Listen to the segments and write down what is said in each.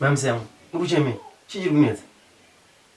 Ma'am Sam, ukucheme, chii chiri kunetsa?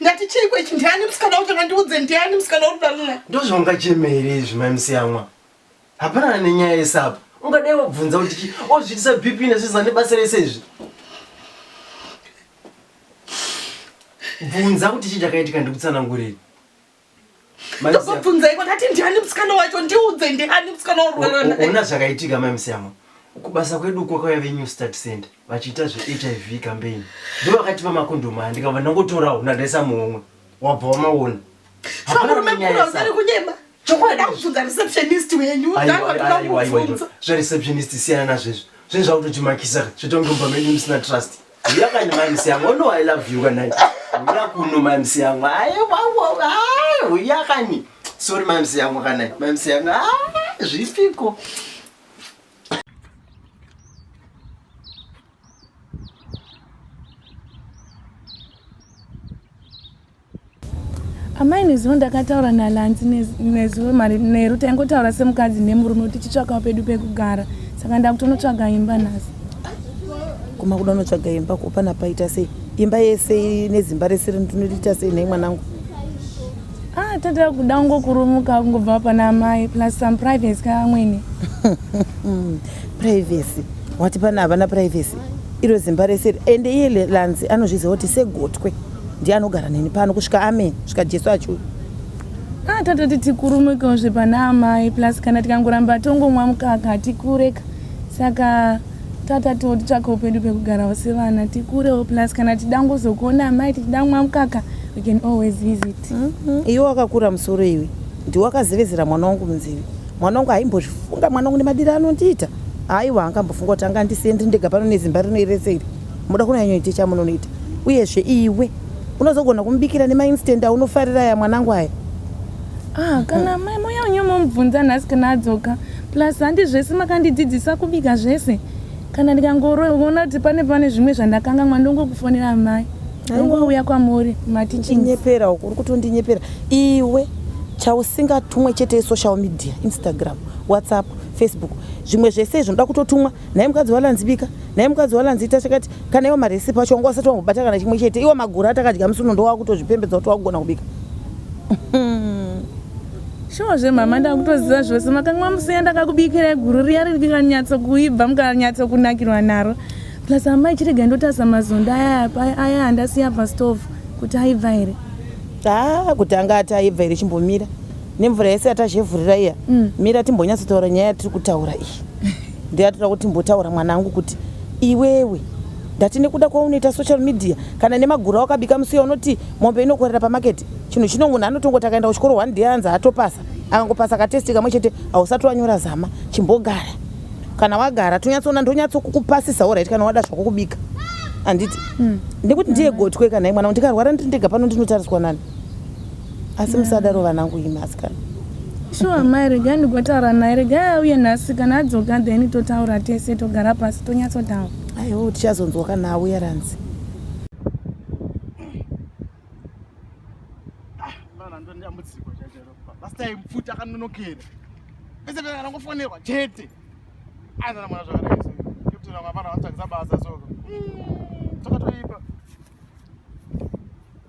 Ndati chii kwechi ndiani musikana wacho ngandiudze ndiani musikana uri dalina. Ndozvongachemere izvi mai musiyamwa. Hapana nenyaya yesapa. Ungadai wabvunza kuti chi ozvitisa BP nesu zane basa rese izvi. Bvunza kuti chi chakaitika ndikutsanangurei. ndokubvunzai kwakati ndiani musikana wacho ndiudze ndiani musikana waona zvakaitika mai musiyamo kubasa kwedu uko kwaive new start center vachiita zvehiv campaign ndo vakatipa makondomu aya ndikabva ndangotorawo ndandaisa muhomwe wabva wamaona zvereceptionist siyana nazvezvo zvezvakutotimakisa zvetonge mumba medu musina trust Uya kani mamisi yangu ono I love you kana uya kuno mamisi yangu aye wawo aye uya kani sorry mamisi yangu kana mamisi yangu aye zvipiko amai nezuva ndakataura nalanzi nezuva mari neru taingotaura semukadzi nemurume kuti tichitsvakawo pedu pekugara saka ndakutonotsvaga imba nhasi kuma kuda unotsvaga imba kupana paita sei imba yese nezimba rese rinoita sei nei mwanangu ah tata kuda ungokurumuka kungobva pana amai plus some privacy kaamwene privacy wati pana havana privacy iro zimba rese ende iye lanzi anozviziva kuti segotwe ndiye anogara neni pano kusvika amen svika jesu achiuya kana ah, tatoti tikurumikawo zvepana amai plus kana tikangoramba tongomwa mukaka hatikureka saka tata totitsvaka upenyu pekugarawo sevana tikurewo plus kana tida ngozokuona amai tichida kumwa mukaka we can always visit mm-hmm. iwe wakakura musoro iwe ndiwe wakazevezera mwana wangu munzivi mwana wangu haimbozvifunga mwana wangu nemadiro anondiita aiwa angambofunga kuti anga ndisendri ndega pano nezimba rino irese iri Moda kunyanyoita chamunonoita uyezve iwe unozogona kumubikira nemainstant aunofarira aya mwanangu aya. Ah, kana mai moya unyo momubvunza nhasi kana adzoka plus handi zvese makandidzidzisa kubika zvese kana ndikangoroona kuti pane pane zvimwe zvandakangamwa ndongokufonera mai ndongouya kwamuri matichinyepera uku uri kutondinyepera iwe chausingatumwe chete social media instagram whatsapp facebook zvimwe zvese izvo ndoda kutotumwa nhai mukadzi walanzi bika nhai mukadzi walanzi ita chakati kana iwo maresipi acho wanga wasati wangobata kana chimwe chete iwo magura atakadya musi uno ndowakutozvipembedza kuti wakugona kubika shuwa zvemama ndakutoziva zvose makanga mamusiya ndakakubikirai guru riya riri kukanyatso kuibva mukanyatso kunakirwa naro plus amai chirega ndotarisa mazondo aya aya andasiya pastove kuti aibva here haa ah, kuti anga ati aibva here chimbomira nemvura yese yatazhevhurira iya mm. mira timbonyatsotaura nyaya yatiri kutaura iyi ndeyatoda kuti timbotaura mwana angu kuti iwewe ndati nekuda kwaunoita social media kana nemagura wakabika musiya unoti mombe inokorera pamaketi chinhu chino munhu anotongoti akaenda kuchikoro one day anzi atopasa akangopasa katesti kamwe chete hausati wanyora zama chimbogara kana wagara tonyatsoona ndonyatsokukupasisawo right kana wada zvako kubika handiti mm. nekuti ndiye gotwe kana imwana ndikarwara ndiri ndega pano ndinotariswa nani asi musadaro vanangu imi asikana shuwa amai regai ndigotaura naye regai auye nhasi kana adzoka then totaura tese togara pasi tonyatsotaura aiwo tichazonzwa kana auya ranzi akanonokeraeeakangofonerwa chete aizanamwana zvakareeaaa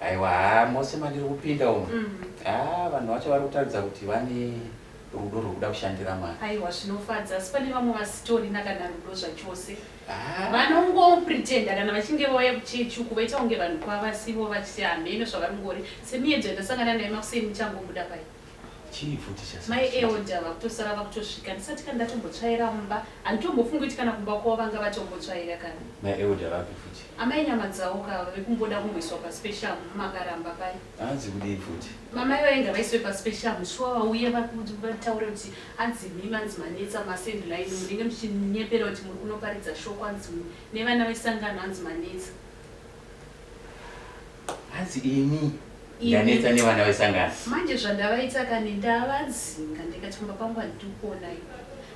Aiwa haa mose mandiri kupinda umu mm. haa ah, vanhu vacho vari kutaridza kuti vane rudo rwekuda kushandira mwari aiwa zvinofadza asi pane vamwe vasitorina kana rudo zvachose ah. vanongopretenda kana vachinge vauya kuchechi uku vaita kunge vanhu kwavasivo vachiti hameno zvavari ngori semiyedzo yandasangana naye makuseni ichangobuda pai Chii futi chasara Mai sweetie? Elder vakutosara vakutosvika ndisati kana ndatombotsvaira mumba. Handitombofungi kuti kana kumba kwavo vanga vatombotsvaira kana. Mai Elder vapi futi? Amai Nyamadzawo ka vave kumboda kumboiswa paspecial umm makaramba paye. Hanzi kudii futi? Mamai vaye ngavaiswe paspecial umm shuwa vauye vaku vataure kuti hanzi imimi hanzi manetsa masend line umm munenge muchinyepera kuti muri kunoparidza shoko hanzi umm nevana vesangano hanzi manetsa. hanzi ini ndanetsa nevana vesangano manje zvandavaita kani ndavadzinga ndikati kumba kwangu handikuonai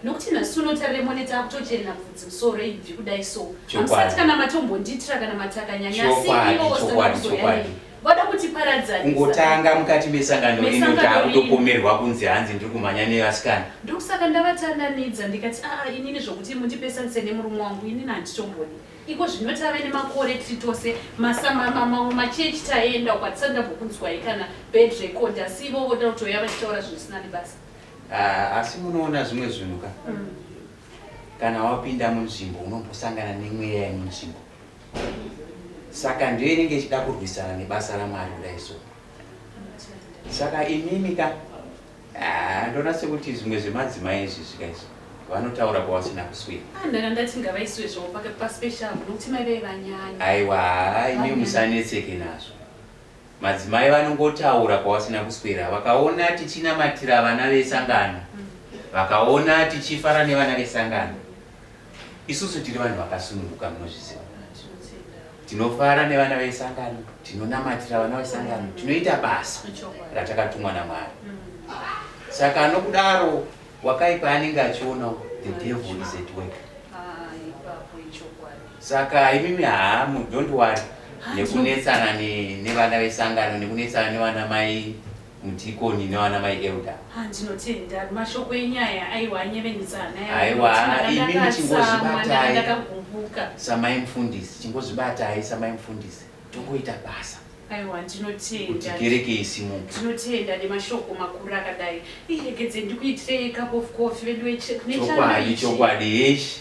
nokuti nhasi uno taremone taakutochena bvudzi musoro ibvi kudai so hamusati kana matombonditira kana matakanyanyasiiooaoyai vada kuti paradzaningotanga mukati mesangano rino taakutopomerwa kunzi hanzi ndiri kumhanya nevasikana ndokusaka ndavatandanidza ndikati aa inini zvokuti mundipesanise nemurume wangu inini handitomboni Iko zvino tave nemakore tiri tose mamamwe machechi taenda uko hatisati ndambokunzwai kana bad record asi ivo voda kutouya vachitaura zvinhu zvisina nebasa. Ah, asi munoona zvimwe zvinhu ka mm. kana wapinda munzvimbo unombosangana nemweya yemunzvimbo saka ndiyo inenge ichida kurwisana nebasa ramwari kudai so saka imimi ka Haa ndoona sekuti zvimwe zvemadzimai izvi zvika izvi vanotaura kwavasina kuswera. Ah, ndanga ndati ngavaiswe zvavo pake paspecial nokuti mai vei vanyanya. Aiwa haa imi musanetseke nazvo. Madzimai vanongotaura kwavasina kuswera vakaona tichinamatira vana vesangano. Mm. Vakaona tichifara nevana vesangano. Isusu tiri vanhu vakasununguka munozviziva. Tinofara nevana vesangano, tinonamatira vana vesangano, tinoita basa ratakatumwa naMwari. Saka anokudaro wakaipa anenge achiona the devil is at work. Saka imimi haamu don't worry nekunetsana nevana vesangano nekunetsana nevana mai mudhikoni nevana mai elder Ah, ndinotenda mashoko enyaya aiwa anyevenutsa hana yangu. Aiwa, Ndakanga imi ndakatsamwa, muchingozvibatai. ndakanga ndakagumbuka samai mfundisi chingozvibatai samai mfundisi tongoita basa aiwa kuti ndinotenda kereke isimuke ndinotenda nemashoko makuru akadai iregedze ndikuitirei cup of coffee veduwe kune chando chokwadi ichi chokwadi heshi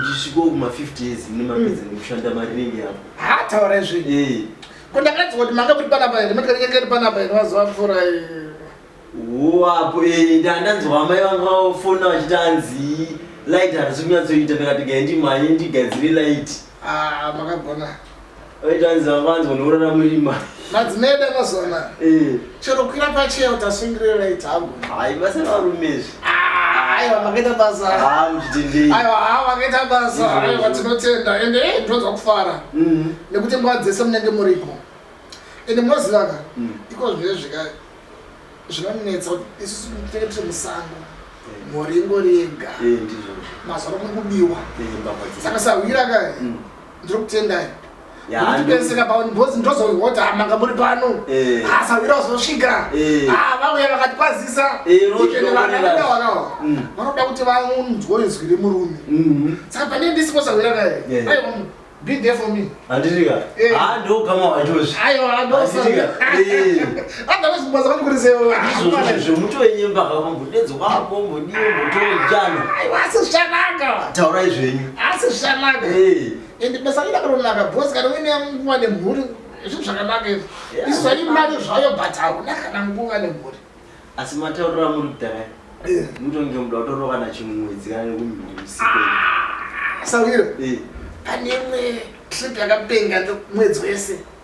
Ndisviko kuma 50 years mune mapedza mm. nekushanda mari ringi yapo. Ha taura izvi. Eh. Ko ndakati kuti manga kuti panapa here mati kanenge kari panapa here mazuva apfuura eh. Wapo eh ndandanzwa amai vanga vafona vachiti anzi light harisi kunyatsoita ndakati gaye ndimhanye ndigadzire light. Ah makagona. madzimeda mazona eh. chero kwira pacheo tasungiriraiti hagoaibasavarumeizvi aiwa makaita basa aiwa ha makaita basa aiwa tinotenda ende e ndinonzwa kufara mm-hmm. nekuti nguva dzese munenge muripo ende munozivaka mm. iko zvinee zvika zvinonetsa kuti isusu tinenge tiri musango eh. mhoringo riega eh, mazoro mukubiwa eh, saka sahwira kae mm. ndiri kutendai ndipeseka pano because ndozoihota ah, manga muri pano eh. asawira ah, uzosvika eh. ah, vauya vakakwazisa ikenevanaidawanawa mm. vanoda kuti vanzwe izwi remurume mm-hmm. saka pane ndisipo sawira kaye eh. aiwa be there for me handisika handokama wachozvi aiwa handosika Otherwise kubaza kwani kuri sewa. Izvozvo zvemutoenyemba havo mbudedzi wako mbudie mutojana. Aiwa asi zvikanaka. Taurai zvenyu. Asi zvikanaka. Eh. Ende basa rina karonaka boss kana uine nguva nemhuri zvinhu zvakanaka izvi. Isu zvai mari zvayo but hauna kana nguva nemhuri. Asi mataurira muri kudhara. Eh. Mutonge muda kutorova na chimwedzi kana nekumhuri usiku. Ah, Sawiro. Eh. Pane imwe trip yakapenga mwedzi wese.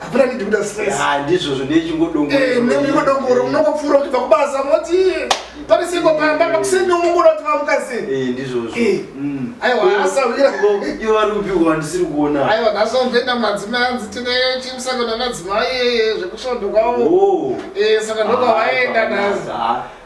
hapana need kuda stress ah ndizvo zvo ndichingodongo eh ndichingodongo unongopfura kuti pakubasa moti pari siko pamba pakuseni umungura kuti vamukasi eh ndizvo zvo eh mm. aiwa asa vira iwe vari kupi kwa ndisiri kuona aiwa naso ndenda madzi manzi tine chimsaka na madzi mai zvekushondo kwawo oh eh saka ndoka ah, vaenda nazo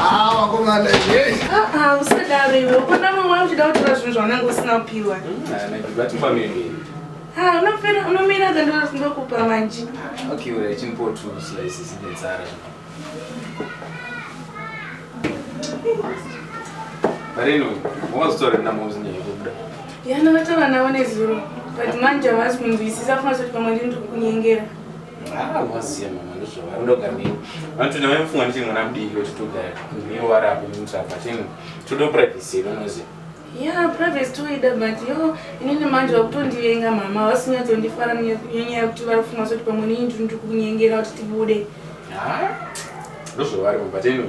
Ah, vakomana hey. Ah, ah, usadaro iwe. Ukona mwe wangu chida kutora zvinhu zvaunenge usina kupiwa. Ah, na kibati pamene. Ah, unopera unomira kando ndokupa manje. Ah, okay, wewe chimpo tu slice zine tsara. Bareno, wazotore na mauzi nyenye kubda. Yana wata wanaone zuru. But manje hawasi kunzwisisa funa kuti pamwe ndiri kunyengera. Ah, wasiya mama ndozvava ndoga nini vanoti ndava mufunga ndichiri mwana mudiki kuti togara miwo vari apo mutsvaka chino toda privacy yedu unoziva ya privacy toida but yo inini manje vakutondivenga mama vasinyatondifara nyanya yekuti vari kufunga soti pamwe nini ndiri ndiri kunyengera kuti tibude ah, ndozvavari mama but anyway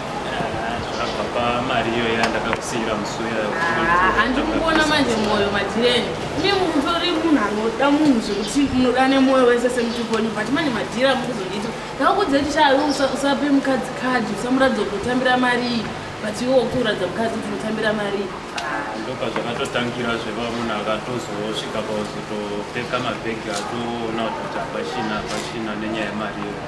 handikukuona manje mwoyo madhireni mi mutori munhu anoda munhu zvekuti munoda nemwoyo wese semutupo wenyu but manje madhiri amukuzondiita ndakakudza kuti chaayo usape mukadzi kadhi usamuratidza kuti utambira marii but iwe wakuuratidza mukadzi kuti unotambira marii ndoka zvakatotangira zveva munhu akatozosvika pauzotopeka mabhegi atoona kuti apachina apachina nenyaya yemari iyo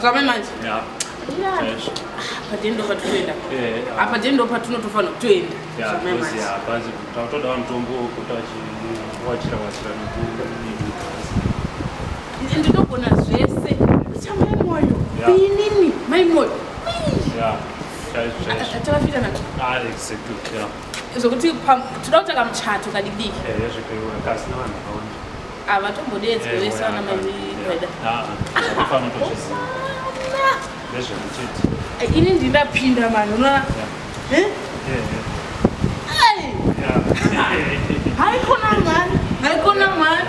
zvame manje apa dendo patutoenda apa dendo patunotofanira kutoenda zvame manje tautoda vamutombo kuti wachira wachira ndinogona zvese chamai mwoyo inini mai mwoyo tavafirana ah, zvokuti toda kutanga muchato kadidiki eh, havatombodeedzwe vese vana maieda ini ndinapinda mani unoona haikona mani haikona mani